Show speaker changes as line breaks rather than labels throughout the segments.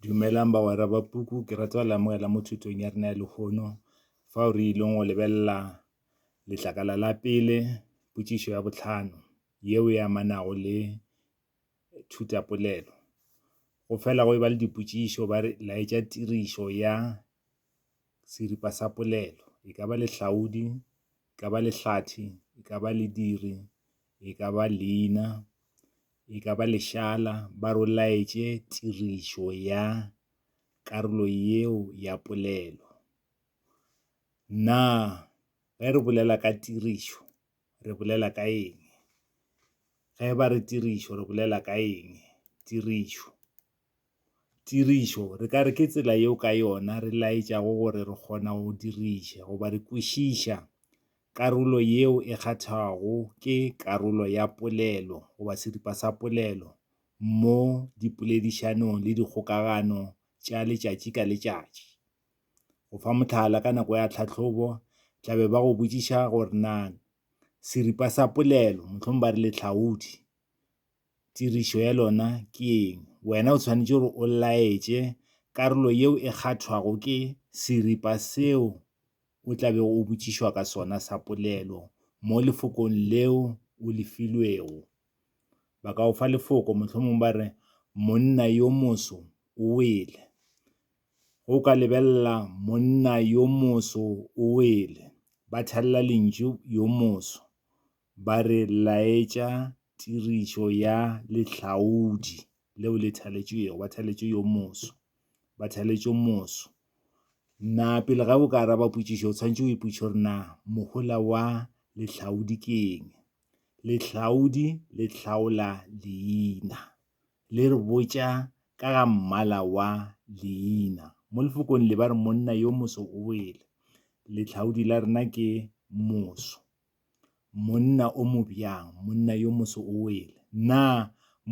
Dumelang bagwera ba puku, ke rata go le amogela mo thutong ya rena ya lehono fao re ileng go lebelela letlakala la pele, potšišo ya bohlano yeo e amanago le thutapolelo. Go fela go e ba le dipotšišo ba re, laetša tirišo ya seripa sa polelo. E ka ba lehlaodi, e ka ba lehlathi, e ka ba lediri, e ka ba leina. e ka ba lešala, ba rolaetše tirišo ya karolo yeo ya polelo. Na ge re bolela ka tirišo re bolela ka eng? Ge ba re tirišo re bolela ka eng? Tirišo. Tirišo, re ka re ke tsela yeo ka yona re laetšago gore re kgona go diriša goba re kwešiša karolo yeo e kgathwago ke karolo ya polelo goba seripa sa polelo mo dipoledišanong le dikgokagano tša letšatši ka letšatši. Go fa mohlala, ka nako ya tlhahlobo tla be ba go botšiša gore na seripa sa polelo, mohlomong ba re lehlaodi, tirišo ya lona ke eng. Wena o tshwanetše gore o laetše karolo yeo e kgathwago ke seripa seo o tla bego o botšišwa ka sona sa polelo mo lefokong leo o le filwego. Ba ka go fa lefoko, mohlomongwe ba re, Monna yo moso o wele. Ge o ka lebelela monna yo moso o wele, ba thalela lentšu yo moso. ba re laetša tirišo ya lehlaodi leo le thaletšwego, ba thaletšwe yo moso, ba thaletšwe moso. Na pele ga o ka araba potšišo, o tshwanetse o ipotšiše gore na mohola wa lehlaodi ke eng. Lehlaodi le hlaola leina, le re botša ka ga mmala wa leina. Mo lefokong le ba re monna yo moso o wele, lehlaodi la rena ke moso. Monna o mo bjang, monna yo moso o wele. Na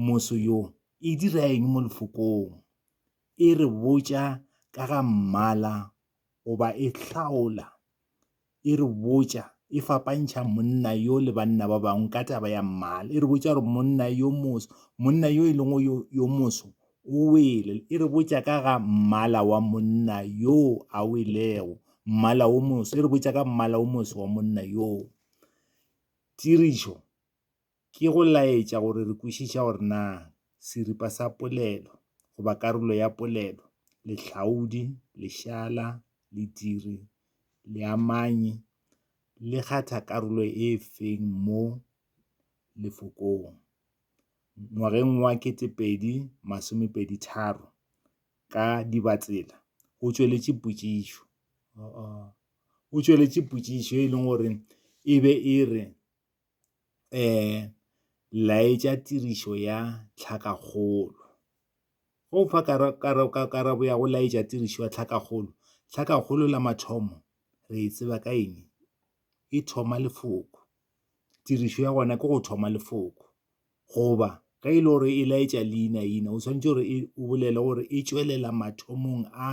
moso yo e dira eng mo Lefokong? E re botša ka ga mmala goba e hlaola, e re botša, e fapantšha monna yo le banna ba bangwe ka taba ya mmala. E re botša gore monna yo moso, monna yo e lego yo moso O wele, e re botša ka ga mmala wa monna yoo a welego, mmala wo moso, e re botša ka mmala wo moso wa monna yoo. Tirišo ke go laetša gore re kwešiša gore na seripa sa polelo goba karolo ya polelo, lehlaodi, lešala, lediri, leamanyi, le kgatha karolo e feng mo lefokong. ngwageng wa 2023 ka Dibatsela o tšweletše potšišo o tšweletše potšišo e leng gore e be e re um laetša tirišo ya tlhakakgolo go fa karabo ya go laetša tirišo ya tlhakakgolo tlhakakgolo la mathomo re e tseba ka eng e thoma lefoko tirišo ya gona ke go thoma lefoko Goba ge e le gore e laetša leinaina, o swanetše gore e, o bolele gore e tšwelela mathomong a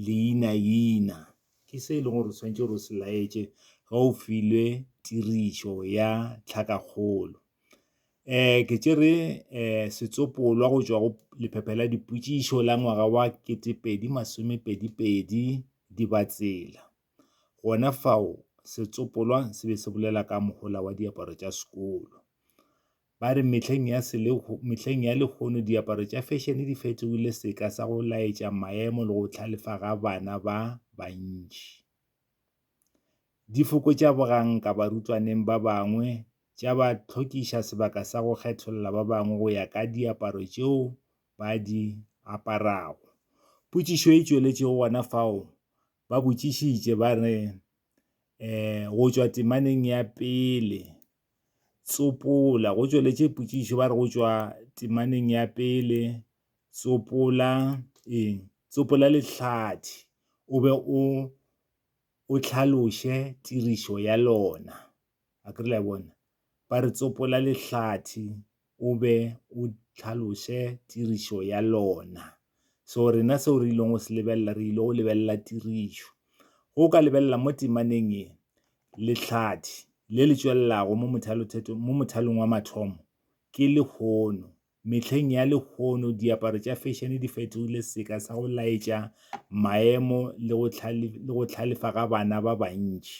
leinaina. Ke se e leng gore o swanetše gore o se laetše ge o filwe tirišo ya tlhakakgolo. um ke tšere um setsopolwa go tšwa go lephephe la dipotšišo la ngwaga wa ketepedi masomepedipedi dibatsela Gona fao setsopolwa se be se bolela ka mohola wa diaparo tša sekolo. Ba re mehleng ya, mehleng ya lehono diaparo tša fešene di fetogile seka sa go laetša maemo le go tlhalefa ga bana ba bantši. Di fokotša boganka barutwaneng ba bangwe, tša ba tlhokiša sebaka sa go kgetholla ba bangwe go ya ka diaparo tšeo ba di aparago. Potšišo e tšweletšego gona fao, ba botšišitše ba re um go tšwa temaneng ya pele tsopola go tšweletše potšišo ba re go tšwa temaneng ya pele tsopola eng tsopola lehlathi o be o o tlhaloše tirišo ya lona a kere la bona ba re tsopola lehlathi o be o tlhaloše tirišo ya lona so rena seo re ileng go se lebelela re ile go lebelela tirišo go ka lebelela mo temaneng e lehlathi le le tšwelelago mo mothalothetho mo mothalong wa mathomo ke lehono mehleng ya lehono diaparo tša fashion di fetogile seka sa go laetša maemo le go tlhalefa ga bana ba bantši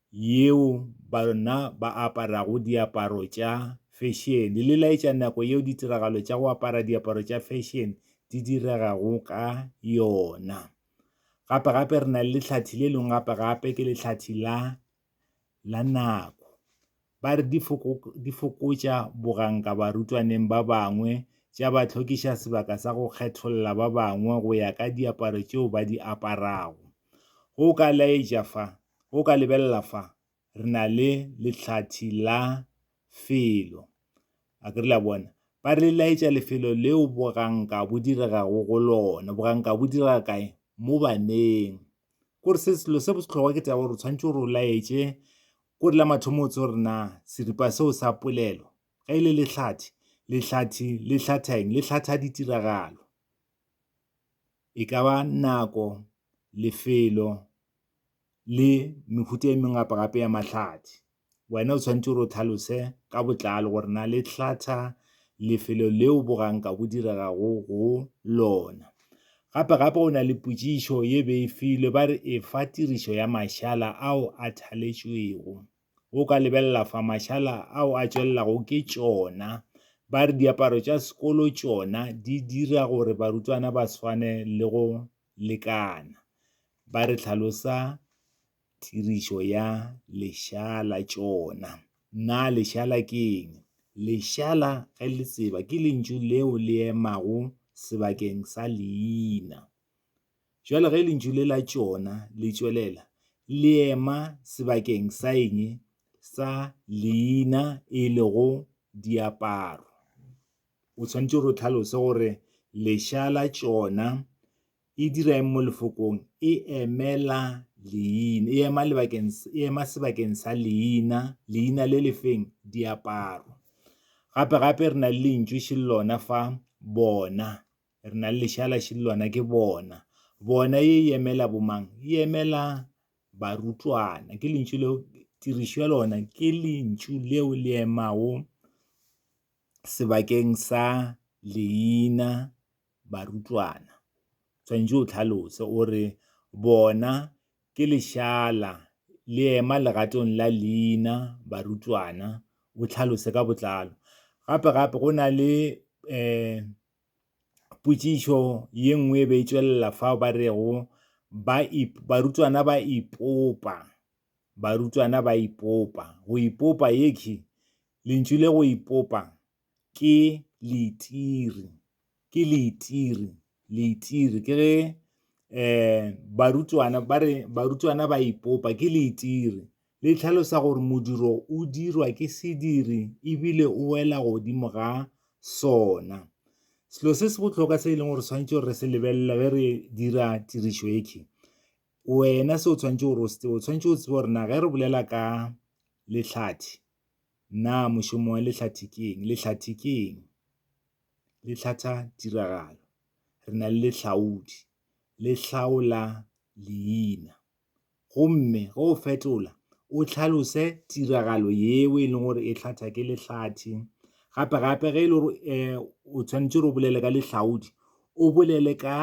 yeo bona ba aparago diaparo tša fešene, le laetša nako yeo ditiragalo tša go apara diaparo tša fešene di diregago ka yona. Gape gape re na le lehlathi le lengwe gape gape ke lehlathi la la nako. Ba re di di fokotša boganka barutwaneng ba bangwe, tša ba tlhokiša sebaka sa go kgetholla ba bangwe go ya ka diaparo tšeo ba di aparago. Go ka laetša fa Go ka lebelela fa, re na le lehlathi la felo. A ke re le a bona? Ba re laetša lefelo leo boganka bo diregago go lona. Boganka bo direga kae? Mo baneng. Kore se selo se bohlokwa ke taba gore o tshwanetse gore o laetše kore la mathomo o tse gore na seripa seo sa polelo ge e le lehlathi lehlathi le hlatha eng le hlatha ditiragalo e ka ba nako lefelo le mehuta e mengwe gape-gape ya mahlathi. Wena o tshwanetse gore o tlhalose ka botlalo gore na le hlatha lefelo leo boganka bo diregago go lona. Gape-gape go na le potšišo ye be e filwe ba re e fa tirišo ya mašala ao a thaletšwego. O ka lebelela fa mašala ao a tšwelelago ke tšona. Ba re diaparo tša sekolo tšona di dira gore barutwana ba swane le go lekana, ba re hlalosa tirišo ya lešala tšona. Na lešala ke eng? Lešala ge le tseba ke lentšu leo le emago sebakeng sa leina. Bjale ge lentšu le la tšona le tšwelela le ema sebakeng sa eng? Sa leina e lego diaparo. O tshwanetse gore o tlhalose gore lesha la tšona e dira eng mo lefokong e emela leina e ema lebakeng e ema sebakeng sa leina leina le lefeng diaparo gape gape re na le lentšu še lona fa bona re na le lešala še lona ke bona bona ye e emela bomang e emela barutwana ke lentšu leo tirišo ya lona ke lentšu leo le emago sebakeng sa leina barutwana, tshwanetse o tlhalose o re bona ke lešaala le ema legatong la leina barutwana, o tlhalose ka botlalo. Gape gape go na le potšišo ye nngwe e be e tšwelela fao ba rego barutwana ba ipopa. Barutwana ba ipopa. Go ipopa ye ke lentšu le go ipopa ke leitiri. Ke leitiri, leitiri. Ke ge um barutwana ba re barutwana ba ipopa ke leitiri. Le tlhalosa gore modiro o dirwa ke sediri ebile o wela godimo ga sona. Selo se se bohlokwa se e leng gore swanetše re se lebelele ge re dira tirišo e ke, Wena se o tshwanetse gore o se tsebe, o tshwanetse o tsebe gore na ge re bolela ka lehlathi, na mošomo wa lehlathi ke eng? Lehlathi ke eng? Le hlatha tiragalo. Re na le lehlaodi, le hlaola leina. Gomme ge o fetola, o tlhalose tiragalo yeo e leng gore e hlatha ke lehlathi. Gape-gape ge e le gore o tshwanetse gore o bolele ka lehlaodi, o bolele ka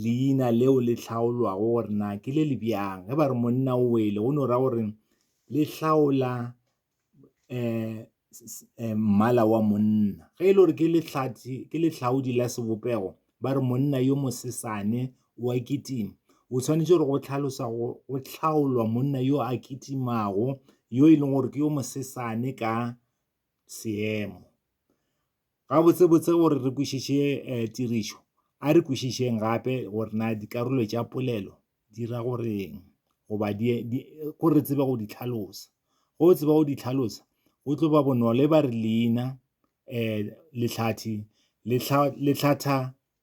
leina leo le hlaolwago gore na ke le le bjang ge ba re monna o wele go no ra gore le hlaola um mmala wa monna ge e le gore ke letlhathi ke letlhaodi la sebopego ba re monna yo mosesane wa kitima o tshwanetse gore go tlhalosa go go tlhaolwa monna yo a kitimago yo e leng gore ke yo mosesane ka seemo Gabotsebotse gore re kwešiše tirišo, a re kwešišeng gape gore na dikarolo tša polelo di ra go re'ng goba gore re tsebe go di hlalosa. Ge o tseba go di hlalosa, go tlo ba bonolo. E ba re leina, lehlathe le hlatha.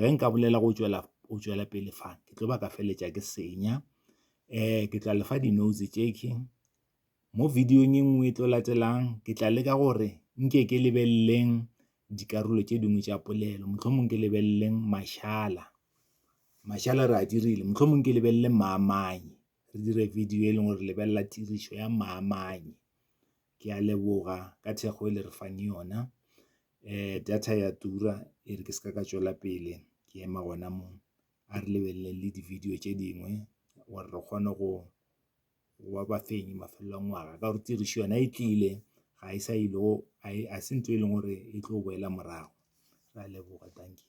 Ge nka bolela go tšwela pele fa, ke tlo ba ka feleletša ke senya. Ke tla le fa di-notes tšekhwi. Mo video-ong e nngwe e tlo latelang, ke tla leka gore nke ke lebeleleng dikarolo tše dingwe tša polelo. Mohlomong ke lebeleleng mašala, mašala re a dirile. Mohlomong ke lebelele maamai, re dire video e leng gore lebelela tirišo ya maamai. Ke a leboga ka thekgo e le re fang yona. Data ya tura e re ke se ka ka tšwela pele ke ema gona mo. A re lebelele le di-video tše dingwe gore re kgone go ba bafenyi mafelelo a ngwaga ka gore tirišo yona e tlile, ga e sa ile go, ga se ntho e leng gore e tlo boela morago. Re a leboga, dankie.